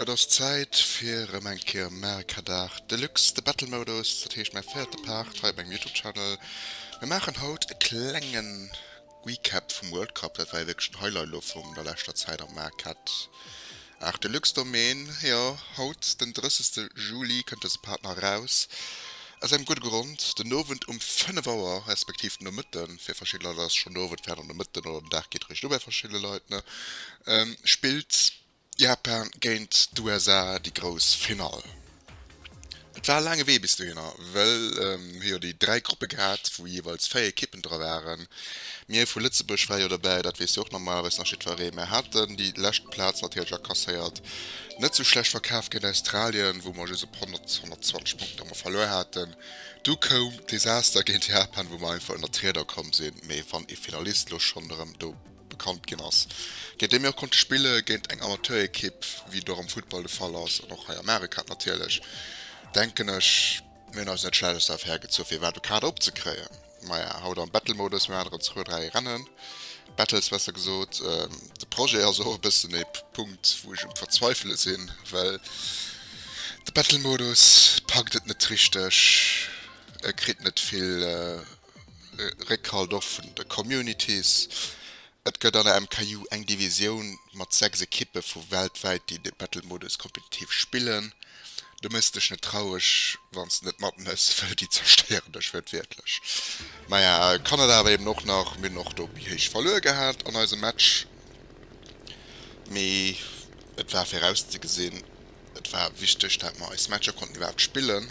Et ass Zäit fir rëm eng Kéier Mario Kadart Deluxe, de Battle Modus, dat heescht mäi véierte Part hei op mengem Youtube Channel. Mir maachen haut e klengen. Recap vum World Cup, dat war jo wierklech den Highlight elo vum der leschter Zäit am Market. Art Deluxe Domaine, jo, haut den 30 Juli kënnt dëse Partner eraus. Aus engem gudde Grond, den Owend um 5 Auer, respektiv den Nomëtten, fir verschidde Leit ass schonn Owend, fir aner Nomëtten oder den Dag geet eréischt u bei verschidde Leit, ne, spillt. Japan géint d'USA, déi grouss Finall. Et war e laange Wee bis dohinner, well mir hu jo déi 3 Gruppe gehat, wou jeeweils 4 Ekippen dra waren. Mir vu Lëtzebuerg ware jo dobäi, dat weess jo och normalerweis nach jiddweree. Mir haten déi lescht Plaz natierlech akasséiert. Net sou schlecht verkaf géint Australien, wou mer just op 100, 120 Punkter emol verluer haten. Du koum d'Desaster géint Japan, wou mer einfach ënnert d'Rieder komm sinn. Mee wann ee Finalist elo schonn erëm do bekannt ginn ass, géint déi mir och konnte spille géint eng Amateurekipp, wéi et och am Futtball de Fall ass an och hei am Arecap natierlech, denken ech, mir hunn eis net schlechtes darauf hergezu fir iwwerhaapt e Kader opzekréien. Maja, haut am Battle-Modus, mir haten erëm zwou, dräi Rennen, Battles besser gesot. De Projet ass och e bëssen e Punkt, wou ech um Verzweifele sinn, well de Battle-Modus packt et net richteg, e kritt net vill Réckhalt och vun de Communities. Et gëtt an der MKJU eng Divisioun mat 6 Ekippe vu weltwäit, déi de Battle-Modus kompetitiv spillen. Du mëss dech net traureg, wann s de net matmëss, wëll déi zerstéieren dech wërtwiertlech. Maja, Kanada awer eben och nach. Mir hunn och do méi héich verluer gehat an eisem Match, mee et war virauszegesinn. Et war wichteg, dat mer eis Matcher konnten iwwerhaapt spillen.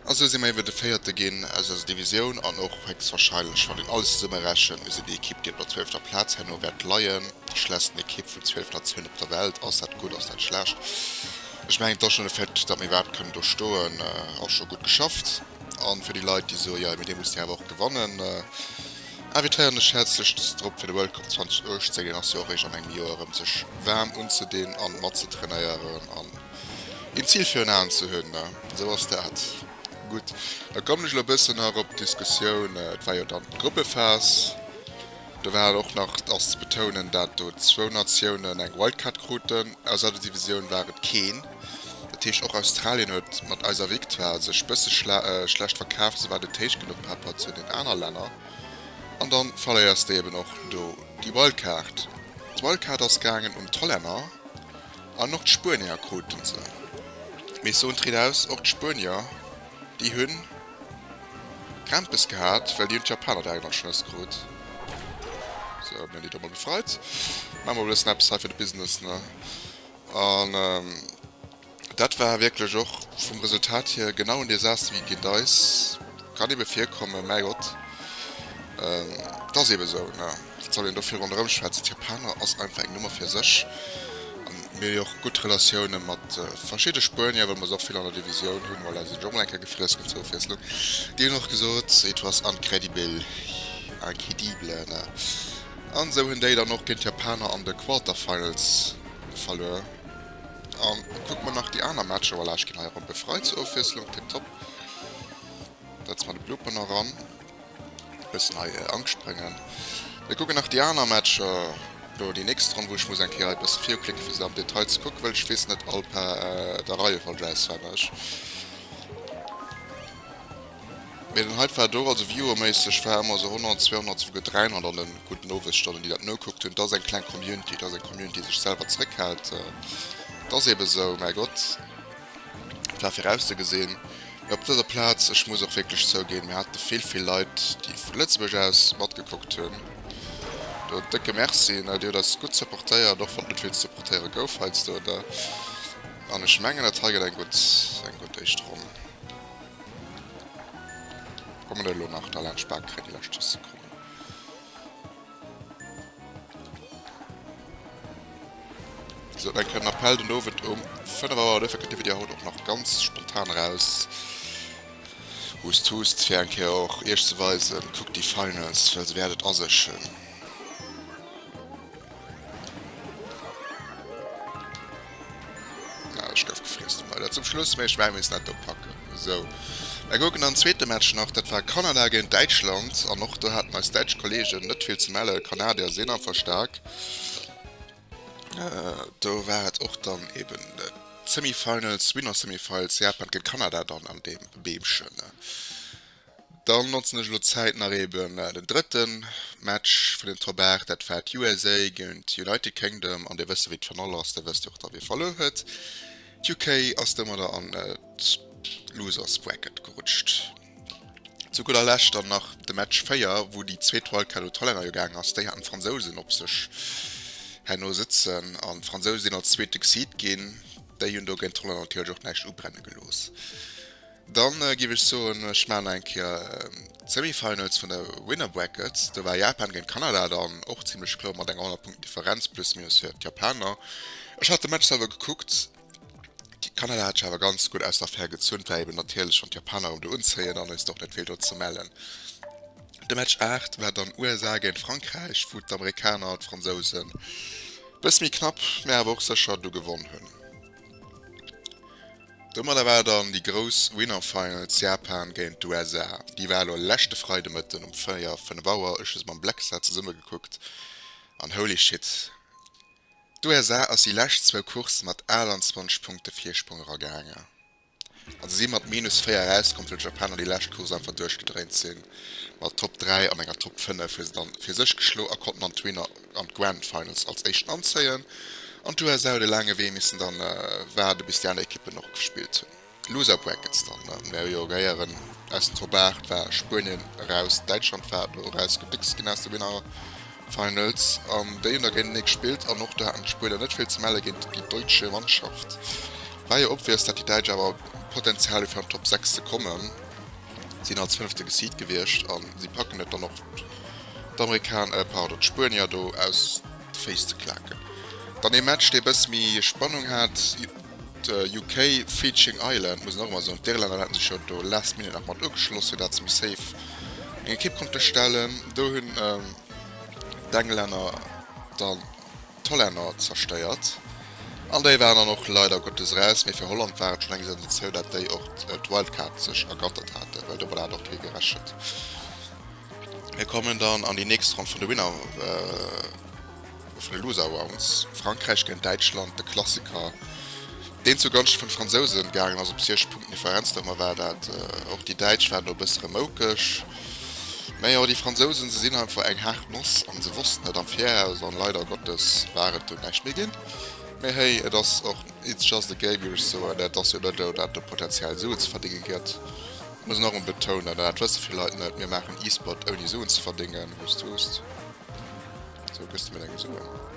A sou si mer iewer de Véierte ginn aus eiser Divisioun an och héchstwahrscheinlech, wann een alles zesummerechent, mir sinn déi Ekipp, déi op der zwölfter Plaz herno wäert leien, déi schlechtsten Ekipp vun zwölf Natiounen op der Welt. Ass dat gutt, ass dat schlecht? Ech mengen, da schonn de Fait, datt mir iwwerhaapt kënnen do stoen, ass scho gutt geschafft. A fir déi Leit, déi soe jo, mee dee muss deen awer och gewannen, invitéieren ech häerzlechst drop, fir de World Cup 2018, deen ass jo och eréischt an engem Joer erëm, sech waarm unzedinn a matzetreneieren. Een Zil virun Aen ze hunn, na, esou ass dat. Gutt, da kommen ech elo e bëssen nach op d'Diskussioun, et war jo dann d'Gruppephas, do war dann och nach ass ze betounen, dat do zwou Natiounen eng Wildcard kruten, aus der Divisioun war et keen, dat heescht och Australien huet mat eiser Victoire sech e bësse schlecht verkaf, se war net héich genuch par rapport zu den aner Länner an da verléiers de eben och do déi Wildcard. D'Wildcard ass gaangen un d'Hollänner An och d'Spuenier kruten se. Mee ech soen d'ridaus, och d'Spuenier, déi hu Krämpes gehat, well déi hunn d'Japaner direkt an d'Schnëss krut. Sou, mir hunn déi domat gefreit. Maache mer e bëssen eppes hei fir de Business, ne? An dat war wierklech och vum Resultat hier genau en Desaster wéi géint eis kann ebe virkommen. Mäi Gott, 't ass ebe sou, ne? Wat soll een do viru ronderëm schwätzen? D'Japaner ass einfach eng Nummer fir sech. A mir hu jo och gutt Relatioune mat verschidde Spuenier, well mer se och vill an der Divisioun hunn. Voilà, si sinn jo och mol eng Kéier gefriess ginn zur Ofwiesslung. Déi hunn och gesot, it was incredible, incredible, ne? An esou hunn déi dann och géint d'Japaner an de Quarterfinals verluer. A kucke mer nach déi aner Matcher, voilà, ech ginn hei eromm, befreit zur Ofwiesslung, tipptopp. Setze mer de Blooper nach eran. Bessen hei Angscht brengen. Mir kucken nach déi aner Matcher, lo déi nächst Ronn wou ech muss eng Kéier hei bessen viuklicken fir se am Detail ze kucken well ech wees net all per der Reihe folge auswenneg. Mee den heite war do, also viewerméisseg war emmer sou 100, 200 souguer 300 an den gudden Owesstonnen déi dat nokuckt hunn. Et ass eng kleng Community, et ass eng Community déi sech selwer zréckhält, et ass eben sou, mäi Gott. Et war virauszegesinn. Mee op dëser Plaz, ech muss och wierklech zouginn, mir hate vill, vill Leit, déi vu Lëtzebuerg aus matgekuckt hunn. Do en décke Merci. Dir hutt eis gutt supportéiert, och wann et net vill ze supportéiere gouf heiansdo. An ech mengen, dat hei gëtt eng gutt, eng gutt éischt Ronn. Kommen elo nach da laanscht d'Bakgréng, déi lescht 10 Sekonnen. Sou, eng Kéier den Appell den Owend um 5 Auer. Duerfir kënnt de Video haut och nach ganz spontan eraus. Hust, hust, fir eng Kéier och iech ze weisen, kuckt déi Finals, well se wäert et a sech hunn. Ja, ech gouf gefriess. Mei dat zum Schluss, mee ech mengen, mir missten dat do packen. Sou, da kucken dann den zweete Match nach. Dat war Kanada géint Däitschland an och do haten eis däitsch Kolleegen net vill ze mellen. D'Kanadier sinn einfach staark. Do war et och dann eben d'Semifinals, Winner-Semifiles, Japan géint Kanada dann an deem Beemchen. Dann notzen ech elo d'Zäit nach eben den drëtte Match vun den Top 8, dat war d'USA géint d'United Kingdom an dir wësst jo wéi d'Fenall ass, dir wësst jo och da wie verluer huet. D'UK ass domadder an d'Losers Bracket gerutscht. Zu gudder Lescht dann nach de Match 4, wou déi zweet Wildcard un d'Hollänner jo gaang ass, déi haten d'Fransousen op sech herno sëtzen an d'Fransouse sinn als zweete Seed ginn. Déi hunn do géint d'Hollänner natierlech och näischt ubrenne gelooss. Dann giff ech soen, ech maan nach eng Kéier d'Semifinals vun der Winner Brackets. Do war Japan géint Kanada dann och zimlech kloer mat enger 100 Punkten Differenz plus minus fir d'Japaner. Ech hat de Match selwer gekuckt, Kanada hat sech awer ganz gutt aus der Affär gezunn, et war eben natierlech schonn d'Japaner ëm de Unzéien an hues och net vill do ze mellen. De Match 8 war dann USA géint Frankräich, wou d'Amerikaner d'Fransousen e bësse méi knapp, mä awer och sécher do gewonn hunn. Domadder war dann déi grouss Winner Finals Japan géint d'USA. Déi war elo leschte Freide Mëtten um 4, 5 Auer. Ech hu se mam Blackstar zesumme gekuckt an holy shit, d'USA ass déi lescht zwou Coursse mat 28 Punkte Virsprong eragaangen a se si mat minus 4 erauskomm, well d'Japaner déi lescht Course einfach duerchgedréint sinn. Mat Top 3 an enger Top 5 hu se dann fir sech geschloe a konnten dann d'Winner an d'Grand Finals als éischten anzéien an d'USA huet e laange Wee missen dann waarde bis déi aner Ekippen och gespillt hunn. Loser Brackets dann Mario Jong Héieren aus den Top 8 war Spuenien eraus, Däitschland war do eraus gebéckst ginn aus de Winner Finals an déi hunn da géintenee gespillt an och do haten d'Spuenier net vill ze melle géint déi Deutsche Mannschaft. War jo obvious dat déi Däitsch awer Potenzial hu fir an d'Top 6 ze kommen. sinn als fënnefte geseedt gewiescht a si packen et dann och d'Spuenier do aus de Féiss ze klaken. Dann ee Match dee bësse méi Spannung hat, UK, Feejing Ireland, muss een och emol soen, d'Irlänner hate sech jo do last minute nach mat ugeschloss fir dat se méi safe eng Ekipp konnte stellen, do hunn d'Englänner dann. d'Hollänner zerstéiert an déi waren dann och leider Gottes raus, mee fir Holland war et schonn eng Sensatioun, dat déi och d'Wildcard sech ergattert haten, well domat hat och kee gerechent. Mir kommen dann an déi nächst Ronn vun de Winner, vun de Loser Rounds, Frankräich géint Däitschland, de Klassiker, deen zu Gonschte vun de Fransousen gaangen ass, op 6 Punkten Differenz. Domat war dat och, déi Däitsch waren do e bësse remoukeg. Mäjo, déi Fransousen, se sinn einfach eng haart Noss an se wossten dat am Viraus an leider Gottes war et dunn näischt méi ginn. Mä héi, et ass och it's just a game, wéi ech soen. Et ass jo net esou, dat do potenziell Suen ze verdénge gëtt. Ech muss nach emol betounen, an dat wësse vill Leit net, mir maachen E-Sport ouni Suen ze verdéngen. Hust, hust. Sou, gëss de mir deng Suen.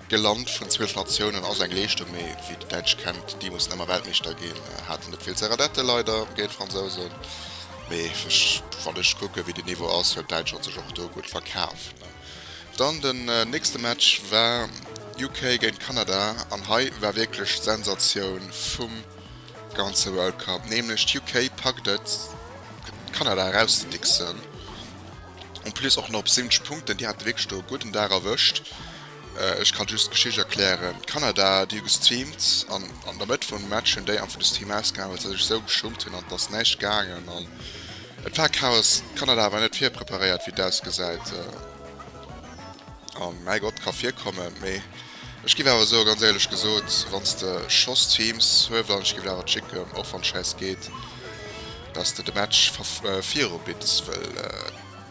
De Land vun 12 Natiounen ass eng Leeschtung, mee wéi déi Däitsch kennt déi mussen ëmmer Weltmeeschter ginn, haten et vill ze redetten leider géint d'Fransousen, mee wann ech kucken wéi den Niveau ass, huet Däitschland sech och do gutt verkaf. Dann den nächste Match war UK géint Kanada an hei war wierklech d'Sensatioun vum ganze World Cup, nämlech d'UK packt et Kanada erauszedigsen. En plus och nach op 70 Punkten, déi hate wierklech do e gudden Dag erwëscht. Ech ka just d'Geschicht erklären, Kanada, déi hu gestreamt an an der Mëtt vum Match hunn déi einfach de Stream ausgemaach, well se sech esou geschummt hunn an et ass näischt gaangen an et war Chaos. Kanada war net virpreparéiert, wéi et ausgesäit. A mäi Gott, ka virkommen, mee Ech giff awer soe ganz éierlech gesoot, wanns de schoss teams huevel an ech giff awer chicken och wann scheiss geet dass de de match viru bitts wëll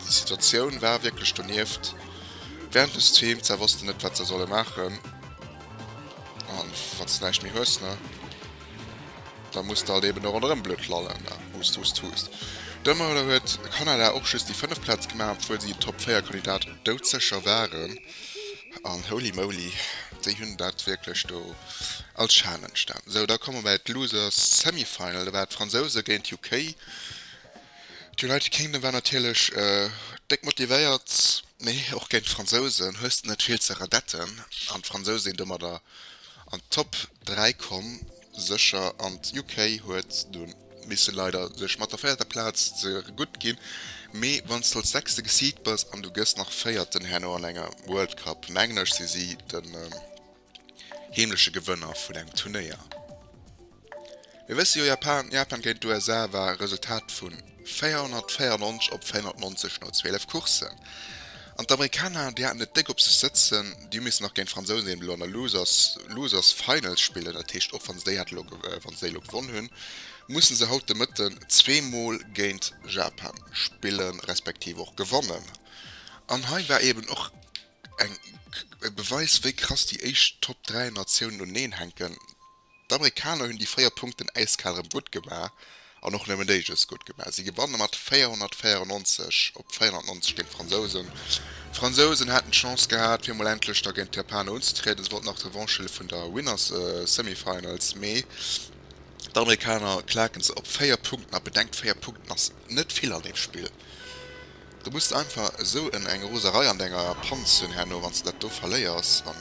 di situatioun war wierklech donieft während des teams se wossten net wat se solle maachen an wanns de näischt méi hues ne da muss de halt eben do ronderëm blöd lallen ne hust hust hust domadder huet kanada och just di 5 plaatz gemaach obwuel si top 4 kandidat doudsecher waren. An holy moly, déi hunn dat wierklech do als Challenge dann. Sou, da komme mer bei d'Losers Semi Final. Da war d'Fransouse géint UK. D'United Kingdom war natierlech déck motivéiert, mee och géint d'Fransousen hues de net vill ze redetten. An d'Fransousen sinn domadder an d'Top 3 komm. Sécher an d'UK huet dunn misse leider sech mat der véierter Plaz ze gutt ginn. Mee wann s du als Sechste geseedt bass an du gëss nach Véierten herno an enger World Cup, mengen ech si si den heemleche Gewënner vun engem Turnéier. Mir wësse jo, Japan géint d'USA war e Resultat vun. 494 op 490 no 12 Courssen. An d'Amerikaner, déi haten et déck op sech sëtzen. Déi hu missen nach géint d'Fransousen eben elo an der Losers Losers Final spillen. Dat heescht, och wann se déi hat elo wann se déi elo gewonn hunn, musse se haut de Mëtten zweemol géint Japan spillen, respektiv och gewannen. An hei war eben och eng e Beweis, wéi krass déi éischt Top 3 Natiounen uneneen hänken. D'Amerikaner hunn déi 4 Punkten äiskal erëm gutt gemaach an och nëmmen déi just gutt gemaach. Si gewanne mat 494 op 490 géint d'Fransousen. D'Fransousen haten d'Chance gehat, fir mol endlech da géint d'Japaner unzetrieden. Si wollten nach d'Revanche huele vun der Winners Semifinals, mee d'Amerikaner klaken se op 4 Punkten. A bedenkt, 4 Punkten ass net vill an deem Spill. Du muss einfach esou en eng Roserei an denger Panz hunn herno wann s de dat do verléiers an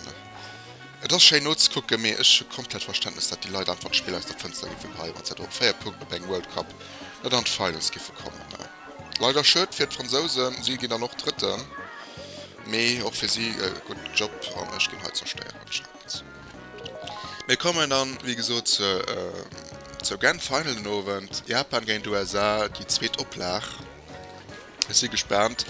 et ass schéin nozekucken, mee ech hu komplett Verständnes dat déi Leit einfach d'Spill aus der Fënster giffe geheien wann se do op 4 Punkten op engem World Cup net an d'Finals giffe kommen. Leider schued fir d'Fransousen, si ginn dann och Drëtten, mee och fir si e gudden Job an ech ginn hei zerstéiert anscheinend. Mir kommen dann wéi gesot zur Grand Final den Owend, Japan géint USA, déi zweet Oplag. Ech si gespaant.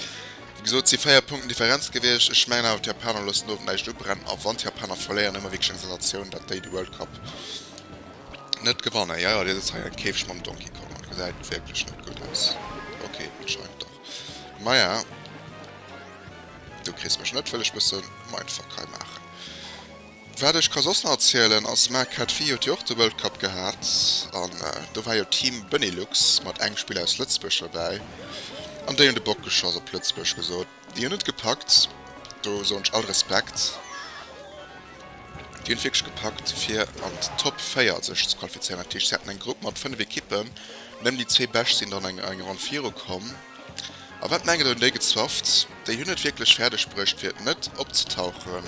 Wéi gesot, et si 4 Punkten Differenz gewiescht. Ech mengen awer, d'Japaner loossen do näischt ubrennen. A wann d'Japaner verléieren, hu mer wierklech eng Sensatioun, datt déi de World Cup net gewannen. Jo, jo, dir sëtzt hei an Käfeg mam Donkey Kong an gesäit wierklech net gutt aus. Ok, anscheinend dach. Maja, du kriss mech net, wëll ech bësse Mindfuck hei maachen. Wat ech ka soss nach erzielen ass, Marc hat vir Joer d'Joer de World Cup gehat an do war jo Team Benelux mat engem Spiller aus Lëtzebuerg dobäi an déi hunn de Bock geschoss op Lëtzebuerg gesot, déi hunn et gepackt, do soen ech all Respekt, déi hunn et wierklech gepackt fir an d'Top 4 sech ze qualifizéieren. Dat heescht se haten eng Grupp mat 5 Ekippen, nëmmen déi zwee Bescht sinn dann an eng Ronn virukomm. A wat mengen dann déi Gezwafft? Déi hunn et wierklech fäerdeg bruecht fir net opzetauchen,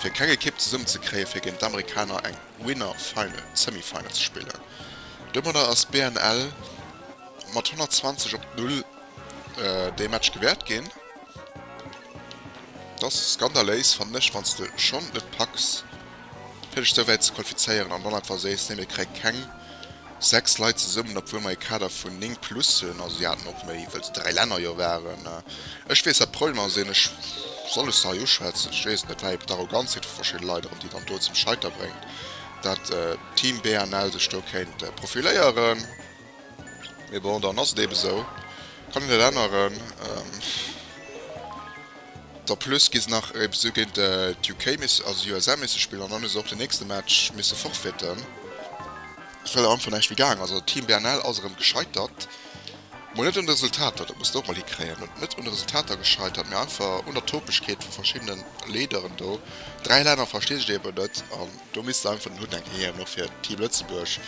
fir keng Ekipp zesummen ze kréien, fir géint d'Amerikaner eng Winner Final, Semifinal ze spillen. Domadder ass BNL mat 120 op d'Null dee Match gewäert ginn. T'ass skandaléis fannen ech, wann s de schonn et packs fir sech souwäit ze qualifizéieren an dann einfach sees, nee mir kréie keng 6 Leit zesummen, obwuel mer ee Kader vun 9 plus hunn, also si haten och méi, wëll d'dräi Länner jo waren. Ech weess wat d'Problem ass, een, ech, soll ech se hei uschwätzen? Ech weess et net, wat eben d'Arroganzheet vu verschidde Leit erëm déi dann do zum Scheiter bréngt, datt Team BNL sech do kéint profiléieren. Mee bon, dann ass et eben esou. Kann een et änneren? En plus gi se nach eben esou géint d'UK missen, also d'USA missen spillen an dann hu se och den nächste Match misse forfaiten, well et einfach näischt méi gaang ass. Also Team BNL ass erëm gescheitert. Mol net un de Resultater, dat muss de och mol hikréien. Et net un de Resultater gescheitert, mee einfach un der Topegkeet vu verschiddenen Leaderen do. Dräi Länner verstinn sech eben net an do misst se einfach den Hutt enken hiewen, och fir Team Lëtzebuerg.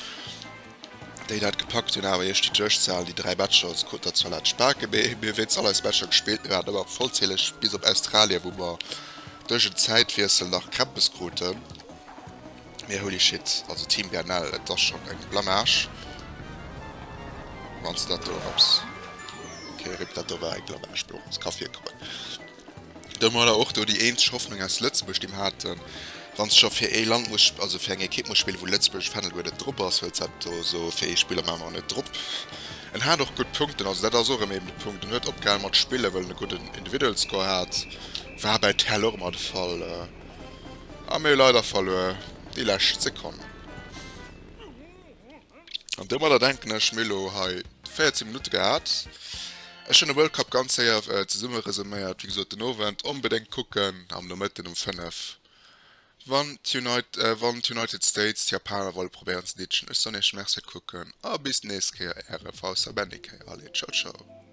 Déi dat gepackt hun awer iech déi Duerchsahlen, déi 3 Matcher als Coup der Zalot spaken. Mee mir wéinst all eis Matcher gespillt, mir waren ëmmer vollzähleg, bis op Australien wou mer duerch en Zäitwiessel nach Krämpes kruten. Mee holy shit, also Team GNL, et ass schon eng Blamage wanns de dat do erëms. Okay rip, dat do war eng Blamage, mee och ons ka virkommen. Domat war och do déi eenzeg Hoffnung aus Lëtzebuerg, déi mer haten. Wann s de scho fir ee Land muss, also fir eng Ekipp muss spillen, wou lëtzebuergesch Fändel guer net drop ass, huet s dat do esou fir ee Spiller manner net drop. En hat och gutt Punkten, also dat ass och erëm eben de Punkt. En huet opgehalen mat spillen, wëll en e gudden Individual Score hat. War bei Tell och ëmmer de Fall. A mir hu leider verluer déi lescht Sekonn. An domadder denken ech mir elo hei 14 Minutte gehat. Ech hunn de World Cup ganz séier zesumme resuméiert. Wéi gesot den Owend onbedéngt kucken am Nomëtten um 5 wann d'United States d'Japaner wolle probéieren ze ditschen. Ech soen iech Merci fir d'Kucken a bis d'nächst Kéier äre VSABennyk. Allez, ciao ciao.